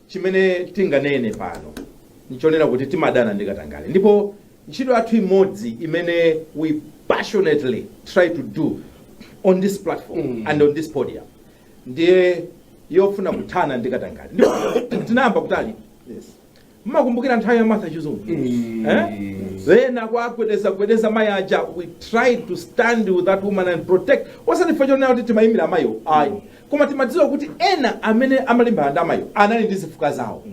chimene tinganene pano nchonena kuti timadana ndi katangale ndipo ntchito yathu imodzi imene we passionately try to do on this platform mm. and on this podium ndiye yofuna kuthana ndi katangale ndipo tinayamba kutali yes. mmakumbukira nthawi ya martha chizuma mm. eh? ena akuwagwedeza gwedeza mayi aja we tried to stand with that woman and protect osati ife chonena kuti timayimira amayiwo ayi mm. koma timadziwa kuti ena amene amalimbana ndi amayiwo anali ndi zifukwa zawo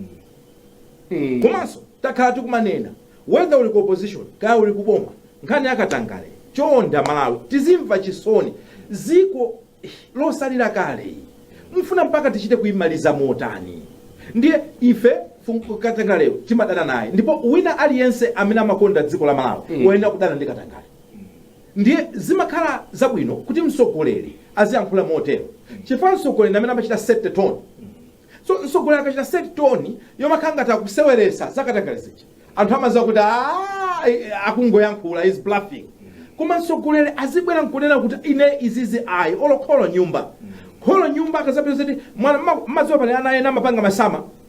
Mm. komanso takhala tikumanena whether uli ku opposition kaya uli ku boma nkhani yakatangale chonda malawi tizimva chisoni dziko losaukira kale iyi. mfuna mpaka tichite kuyimaliza motani ndiye ife fungu- katangaleyo timadana naye ndipo wina aliyense amene amakonda dziko la malawi Mm. woyenera kudana ndi katangale Ndiye zimakhala zabwino kuti mtsogoleri aziyankhula motero chifukwa mtsogoleri ndi amene amachita set tone. So mtsogoleri akachita set tone yomakhala ngati akuseweretsa zakatangale zija, anthu amadziwa kuti aah akungoyankhula he's bluffing. Koma mtsogoleri azibwera n'kunena kuti ine izizi ayi olo kholo m'nyumba. Kholo m'nyumba akadzapeza kuti mwana mma- mmadziwa pali ana ena amapanga masama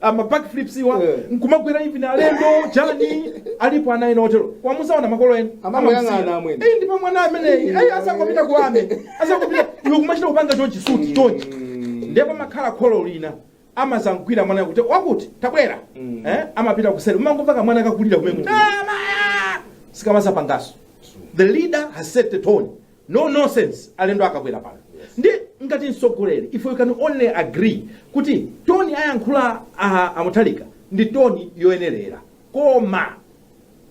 ama backflips iwa Eh. nkumagwera even alendo chani alipo ana ena otero wamusaona makolo ena Amangoyang'ana Amamusiya. amwene. Eh, ndipo mwana ameneyi ayi akangopita kuwame akangopita iwe kumachita kupanga chonchi suti chonchi ndipo pamakhala kholo lina amadzamugwira mwana kuti wakuti tabwera Mm. eh, amapita kuseri umangomva kamwana kakulira kumene kuti "Ah, mayo!" sikamadzapangaso the leader has set the tone No nonsense alendo akabwera pano ndi ngati mtsogoleri if we can only agree kuti toni ayankhula a, a Mutharika ndi toni yoyenerera koma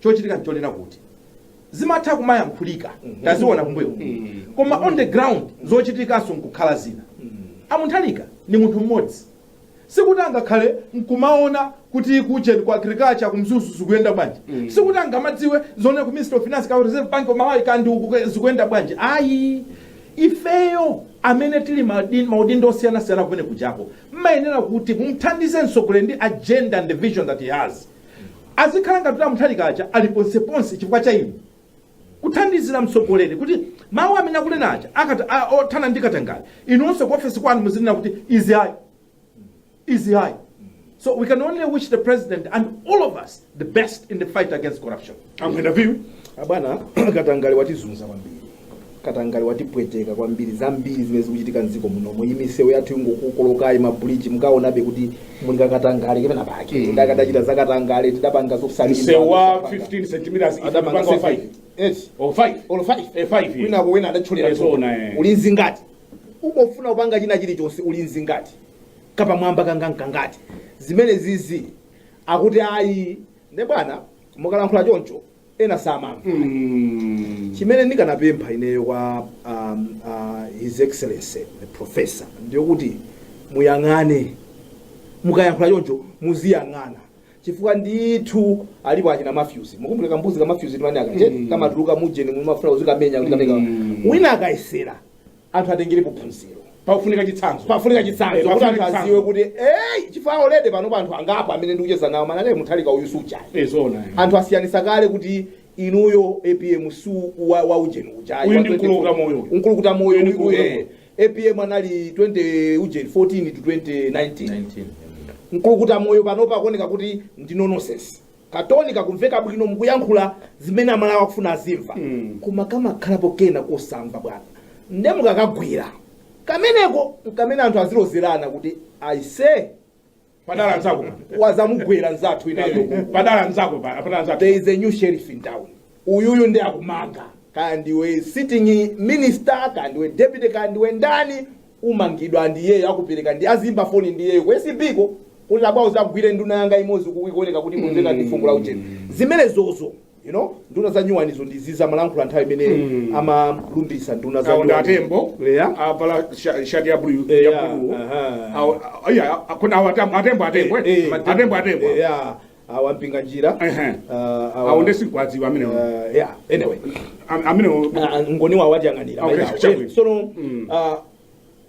chochitika nchonena kuti zimatha kumayankhulika taziona kumbuyo koma on the ground zochitikanso nkukhala zina a Mutharika ndi munthu mmodzi sikuti angakhale nkumaona kuti kujeni ku agriculture ku mzuzu zikuyenda bwanji mm. sikuti angamadziwe zonse ku ministry of finance ku reserve bank of malawi kaya uku zikuyenda bwanji ayi ifeyo amene tili madin- maudindo osiyanasiyana kumene kujako mmayenera kuti mumthandize mtsogoleli ndi agenda ndi vision that he has azikhala ngati kuti a mutharika aja ali ponseponse chifukwa cha inu kuthandizira mtsogoleri kuti mawu amene akunena aja akata- a- othana ndi katangale inunso ku ofesi kwanu muzinena kuti izi ayi izi ayi so we can only wish the president and all of us the best in the fight against corruption a mwenefumbo abwana katangale watizunza kwambiri katangale watipweteka kwambiri zambiri zimene zikuchitika mdziko munomo imisewu yathu ikungokokolokayi mabridge mukaonabe kuti muli kakatangale penapake Mm. adakachita zakatangale tidapanga zokusalira msewu wa 15 centimeters ife adapanga tipanga wa 5 eti o 5 olo 5 Eh, five, eh. winako wena adatcholera Eh, zona, eh. olo zingati umafuna kupanga china chilichonse olo zingati kapamwamba kangankangati zimene zizi akuti ayi nde bwana mukalankhula choncho ena samamva Mm. chimene ndikanapempha ineyo kwa um, uh, his excellency the professor ndiyokuti muyang'ane mukayankhula choncho muziyang'ana chifukwa ndithu alipo achina mafyuzi mukumbuke kambuzi kamafyuzi timani kaja Mm. kamatuluka mujeni mumafuna uzikamenya ukakamenya Mm. wina akayesera anthu atengerepo phunziro pakufunika chitsanzo pakufunika Eh, chitsanzo kuti pafunika anthu aziwe kuti eyi chifukwa already panopa anthu angapo amene ndikucheza nawo manane muthalika uyu sujayi Eh, zoona eh. anthu asiyanisa kale kuti inuyo apm su wa, wa ujeni ujayi Uyu wa ndi 20 mkulukutamoyo uyu. mkulukutamoyo Uyu ndi uyu, mkulu eh. apm anali 20 ujeni 14 to 2019 mkulukutamoyo panopa akuoneka kuti ndi nonsense katoni kakumveka bwino mukuyankhula zimene amalawi akufuna azimva koma kamakhalapo kena kosamba bwana nde mukakagwera kameneko nkamene anthu azilozerana kuti aise adawazamugwera nzathu inayo padala nzako pa- padala nzako there is a new sheriff in town uyuyu ndi akumanga kaya ndiwe sitting minister kaya ndiwe deputy kaya ndiwe ndani umangidwa and iyeyo akupereka ndi azimba foni ndi iyeyo ku acb ko kuti abwawo zagwire nduna yanga imodzi kukuoneka kuti kumveka ndi fungo la uchete zimenezozo you know nduna za nyuwanizo ndi zija amalankhula nthawi imene Mm. amalumbiritsa nduna za awo ndi nyuwani. atembo Yeah. avala sha- shati ya bulu Eh, ya yeah, bulu aha. awo ayi, a- a- kuna awo atembo atembo atembo eh, Eh, eh, atembo atembo eh, yeah. awa mpinganjira Ehe. ah, awa- awo nde sikwadziwa amenewo ah, yeah anyway Am- amenewo Ah, ngoni wawo atiyang'anira Okay, mayilawo. chabwino. Eh, sono Mm. ah,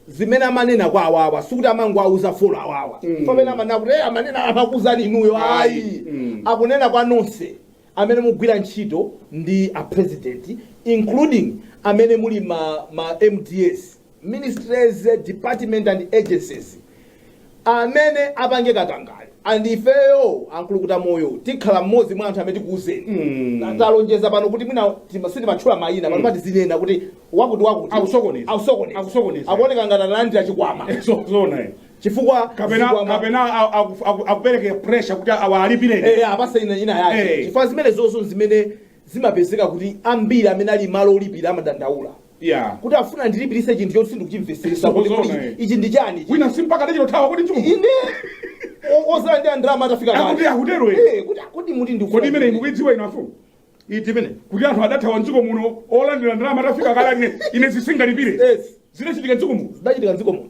zimene amanena kwa awawa sikuti amangowauza four awawa Mm. pamene amanena kuti "Eh, amanena amakuuzani inuyo Ayi. ayi Mm. akunena kwa nonse amene mugwira ntchito ndi a president including amene muli ma, ma mdas ministries, department and agencies amene apange katangale and ifeyo amkulukutamoyo tikhala mmodzi mwa anthu amene tikuuzeni Mm. talonjeza pano kuti mwina tima- sitimatchula mayina pano pa tizinena kuti wakuti wakuti Akusokoneza. akusokoneza Akusokoneza. akuoneka ngati analandira chikwama So- zoona eh. chifukwa kapena zikwama- kapena a- a- aku- aku- akupereke pressure kuti awalipire Eh, apasa ina ina yake Eh. chifukwa zimenezonso zimene zimapezeka kuti ambiri amene ali malo olipira amadandaula Yeah. kuti afuna ndilipirise chinthu choti sindikuchimveseresa kuti Zoona, kuti eh. ichi ndi chani ichi. wina simpaka tachita uthawa kuti chuma ine o- olandira ndalama atafika kale. akuti akutero ine Eh, kuti akuti muti ndikufuna kodi imene imukuidziwa inu afumu iti imene kuti anthu adathawa mdziko muno olandira ndalama atafika kale ine ine zisingalipire Yes. zinachitika mdziko muno zidachitika mdziko muno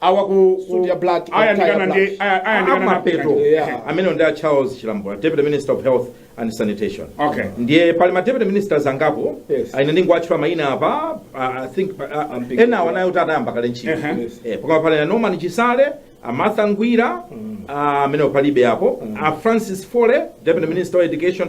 awa ku suit ya black ku ayandikana tie ndi black. aya- ayandikana na- amapeto Yeah. amenewo ndi a charles chilambo deputy minister of health and sanitation Okay. ndiye panali ma deputy ministers angapo Yes. ine ndingowatchula mayina apa ah, i think ah, ah, I'm big. enawo anayo kuti anayamba kale ntchito Uh-huh. Yes. Eh, pakhala pali a norman chisale a martha ngwira ah, amenewo palibe apo a francis fole deputy minister of education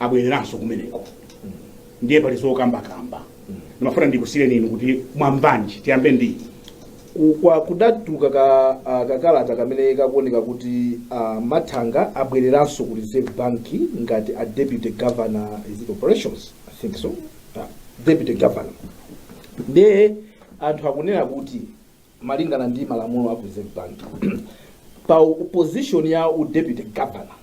abwereranso kumeneko ndiye pali zokambakamba ndimafuna ndikusireni inu kuti mwambanji tiyambe ndi Ku- kwa kudatuluka ka ah, kakalata kamene kakuoneka kuti a Mathanga abwereranso ku reserve bank ngati a deputy governor is it operations i think so ah, deputy governor ndiye anthu akunena kuti malingana ndi malamulo a ku Reserve Bank pa position ya u deputy governor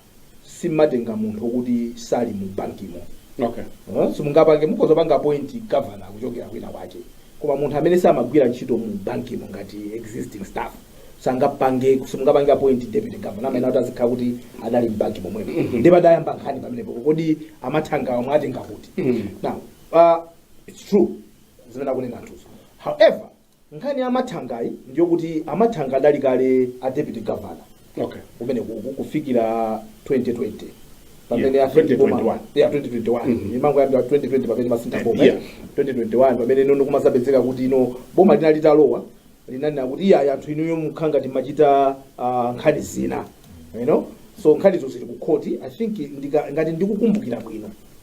simatenga munthu okuti sali mu bankimo okay Eh, simungapange mukhoza panga appoint governor kuchokera kwina kwake koma munthu amene samagwira ntchito mu bankimo ngati existing staff sangapange simungapange appoint deputy governor amene kuti azikhala kuti adali mbanki momwemo ndi padayamba nkhani pamenepo kodi a Mathangawa mwatenga kuti now uh, it's true zimene akunena anthuzo however Nkhani ya a Mathangayi ndiyokuti a Mathanga adali kale a deputy governor Okay. kumeneko uku kufikira 2020 pamene Yeah, afika boma- 2021. yeah, 2021 Mhm. imangoyambira 2020 pamene masintha boma Yeah. 2021 pamene you know kumazapezeka kuti you know boma linali litalowa linanena kuti iyayi anthu inuyo mukhala ngati machita ah, nkhani zina you know so nkhanizo zili ku khoti i think ndika- ngati ndikukumbukira bwino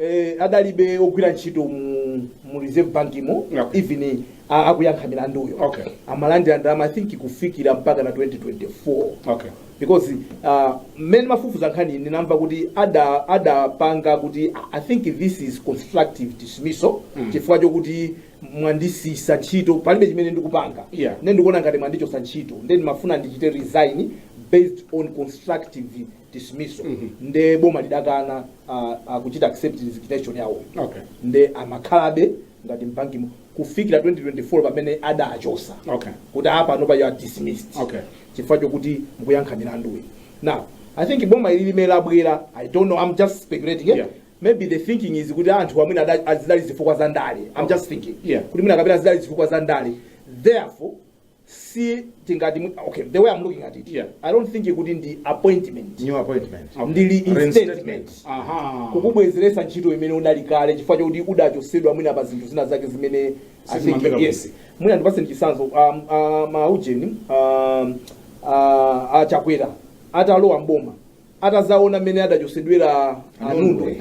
eh, adalibe ogwira ntchito mu, mu reserve bankimo Okay. even a- akuyankha milanduyo Okay. amalandira ndalama i think kufikira mpaka na 2024 okay because uh, mmene mafufuza nkhani ndinamva kuti ada- adapanga kuti I- i think this is constructive dismissal mm. chifukwa chokuti mwandisiyisa ntchito palibe chimene ndikupanga Yeah. nde ndikuona ngati mwandichosa ntchito nde ndimafuna ndichite resign based on constructive dismissal Mhm. nde boma lidakana ah, ah, kuchita accept resignation yawo Okay. nde amakhalabe ngati mbankimo kufikira 2024 pamene adachosa Okay. kuti apanopa you are dismissed Okay. chifukwa chokuti mukuyankha milanduyi now i think boma ili limene labwera i don't know i'm just speculating eh? Yeah. maybe the thinking is kuti anthu amene ada- zidali zifukwa za ndale i'm just thinking Yeah. kuti mwina kapena zidali zifukwa za ndale therefore si tingati mu- okay the way i'm looking at it Yeah. i don't think kuti ndi appointment new appointment ndi reinstatement Reinstatement. aha kukubwezeretsa ntchito imene unali kale chifukwa chakuti udachosedwa mwina pa zinthu zina zake zimene I think, Sizimamveka yes bwino. mwina ndipase ndi chisanzo um, uh, maujeni um, uh, a Chakwera atalowa m'boma atazaona mmene adachosedwera a Nundwe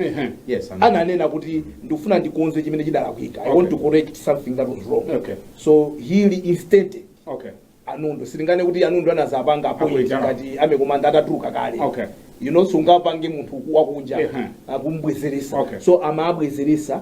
Yes, and- ananena kuti ndikufuna ndikonze chimene chidalakwika i want to correct something that was wrong Okay. so he reinstated Okay. a Nundwe sitinganene kuti a Nundwe anazapanga appoint Appoint, ah. ngati army commander atatuluka kale Okay. you know sungapange munthu wakunja Ehe. akumbwezelesa Okay. so amabwezelesa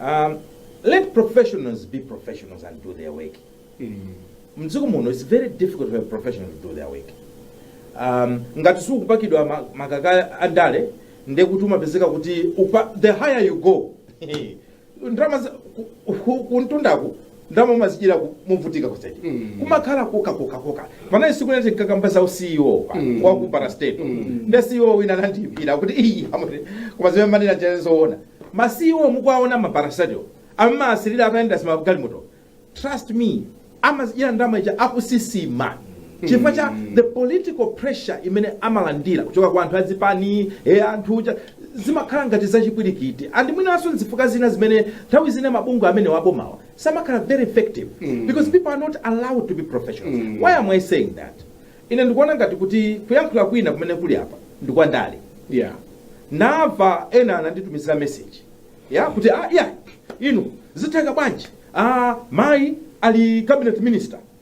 um, let professionals be professionals and do their work mdziko muno it's very difficult for a professional to do their work um, ngati sukupakidwa ma- makaka andale nde kuti umapezeka kuti upa, the higher you go ndalama za- ku- ku- kumtundaku ndalama umazidyera ku- movutika kuseriku kumakhala koka koka koka panali tsiku lina tinkakamba za u CEO wa ku parastatal nde CEO wina anandiimbira kuti ayi amati, koma zimene mumanena nzenizeni zoona ma CEO mukuwaona ma parastatal mumawasirira akayenda m'magalimoto trust me amazidyera ndalama zija akusisima chifukwa cha the political pressure imene amalandira kuchoka kwa anthu azipani e anthu uja zimakhala ngati za chipwirikiti and mwinanso nzifukwa zina zimene nthawi zina mabungwe amenewa a bomawa samakhala very effective because people are not allowed to be professionals why am i saying that ine ndikuona ngati kuti kuyankhula kwina kumene kuli apa ndi kwa ndale yeah ndamva ena ananditumizira message ya kuti ah, iyayi inu zitheka bwanji ah, mayi ali cabinet minister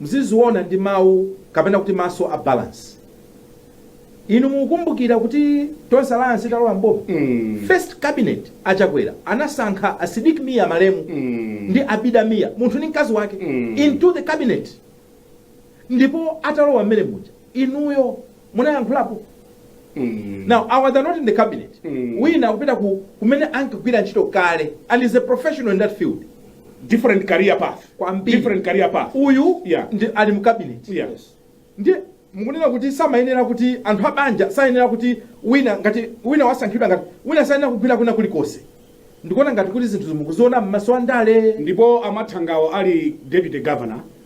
Muziziwona ndi mawu, kapena kuti maso a balance. Inu mukukumbukira kuti Tonse Alliance italowa m'boma, first cabinet a Chakwera anasankha a Sidik Mia malemu ndi Abida Mia, munthu ndi mkazi wake, into the cabinet. Ndipo atalowa mmene muja, inuyo munayankhulapo Mm. now awa they're not in the cabinet Mm. wina akupita ku kumene ankagwira ntchito kale and is a professional in that field different career path Kwambiri. different career path uyu Yeah. ndi ali mu cabinet yeah ndiye mukunena kuti samayenera kuti anthu abanja sayenera kuti wina ngati wina wasankhidwa ngati wina sayenera kugwira kwina kulikonse ndikuona ngati kuti zinthu zi mukuziona m'maso andale ndipo a Mathangawo ali deputy governor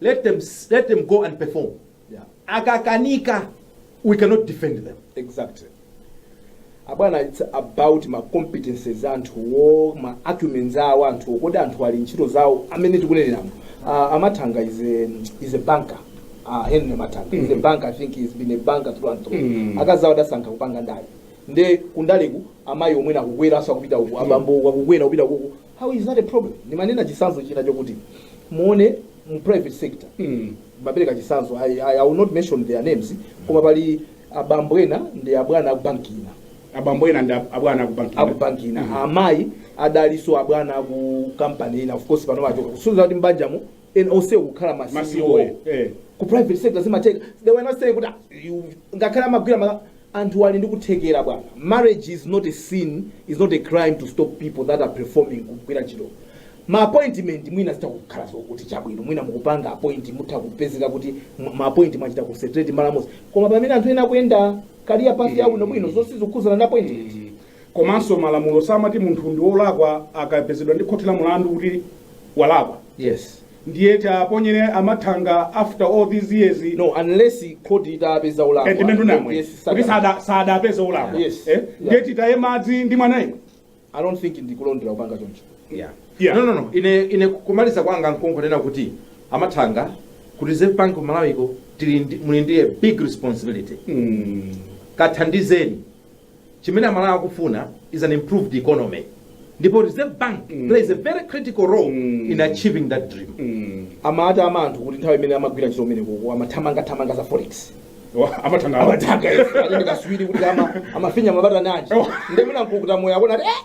Let them, let them go and perform. Yeah. Akakanika, we cannot defend them. Exactly. abwana it's about ma competences anthuwo ma acumens awo anthuwo kodi anthu ali ntchito zawo amene tikunenerano uh, a Mathanga is a, is a banker uh, Henry Mathanga is a banker i think he's been a banker through and through akazawo adasankha kupanga ndale nde kundaleko amayiwo mmene akukwera nawonso akupita uku abambo akukwera kupita uku How is that a problem? Nimanena chisanzo china chokuti muone mu private sector. Mm. Ndimapereka chisanzo. I, I, I will not mention their names. Koma pali abambo ena ndi abwana aku banki ina. Aku banki ina. Amayi adalinso abwana aku company ina. Of course pano achoka. Kusonyeza kuti mbanjamo muli onsewo kukhala ma ma CEO CEO. eh. Eh. ku private sector zimatheka they were not saying kuti "Ah, you- ngakhale amagwira ma anthu ali ndi kuthekera bwana marriage is not a sin is not a crime to stop people that are performing kugwira ntchito ma appointment mwina zitha kukhala zokuti chabwino mwina mukupanga appoint mutha kupezeka kuti ma- ma appoint mwachita concentrate malo amodzi koma pamene anthu ena akuyenda career path yabwino bwino zosati zikukhudzana ndi appointment Komanso malamulo amati munthu ndi wolakwa akapezedwa ndi khoti la milandu kuti walakwa. Yes. Ndiye tiaponyere amathanga after all these years. No, unless khoti itapeza olakwa. Eh, ndimmene ndunamvera. Yes, kuti sada sada apeza olakwa. Yes. Eh? Ndiye yeah. titaye madzi ndi mwana yemwe. I don't think ndikulondola kupanga choncho. Yeah. Yeah. No, no, no. Ine ine kumaliza kwanga nkongonena kuti amathanga ku Reserve Bank of Malawi ko muli ndi a big responsibility. Mm. Kathandizeni. Chimene amalawi akufuna is an improved economy ndipo reserve bank mm. plays a very critical role mm. in achieving that dream mm. amati ama anthu kuti nthawi imene amagwira ntchito mmene kuko amathamanga thamanga za forex amathanga amathanga katswiri kuti ama amafinya mabata naji oh. ndemina nkukuta moyo akona eh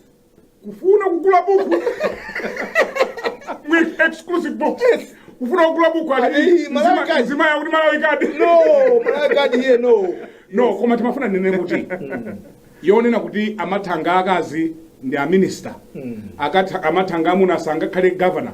kufuna kugula buku with exclusive books kufuna kugula buku ali Ayi, Malawi zima- kadi. zimayankhula kuti malawi kadi no malawi kadi iye no no koma timafuna tinene kuti yonena kuti amathanga akazi ndi aminister Akatha- amathanga amuna sangakhale governor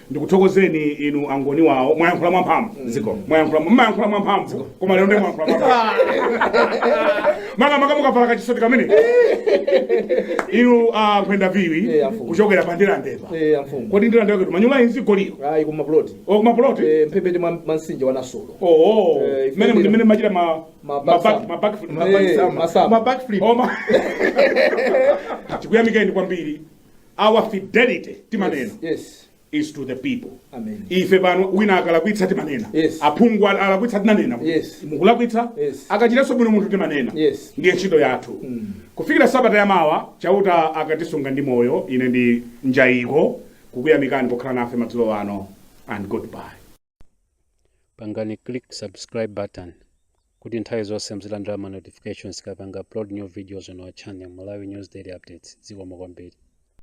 ndikuthokozeni inu angoni wawo mwayankhula mwamphamvu zikomo mwayankhula mmayankhula mwamphamvu koma lero ndemwayankhula mwamphamvu maka maka mukavala kachisoti kamene inu a nkhwenda phiri Eh, amfumu. kuchokera pa ndirandepa Eh, amfumu kodi ndirandepa kuti manyumba azigololo ayi koma ploti okumapuloti Eh, mphepete mwa mwa mtsinje wa nasolo oo Eh, ife mmene ndira. mmene mmachita ma Ma ma back back- summer. ma back Eh, masama. ma backflip. Oh, ma- tikuyamikeni kwambiri our fidelity timanena Yes. yes. is to the people Amen. ife pano wina akalakwitsa timanena Yes. aphungu al- alakwitsa tinanena Yes. mukulakwitsa Yes. akachitanso bwino munthu timanena Yes. ndiye ntchito yathu kufikira sabata ya mawa chauta akatisunga ndi moyo ine ndi njayiko kukuyamikani pokhala nafe madzulo ano and goodbye Pangani click subscribe button kuti nthawi zonse muzilandira ma notifications tikapanga upload new videos on our channel Malawi News Daily Updates. Zikomo kwambiri.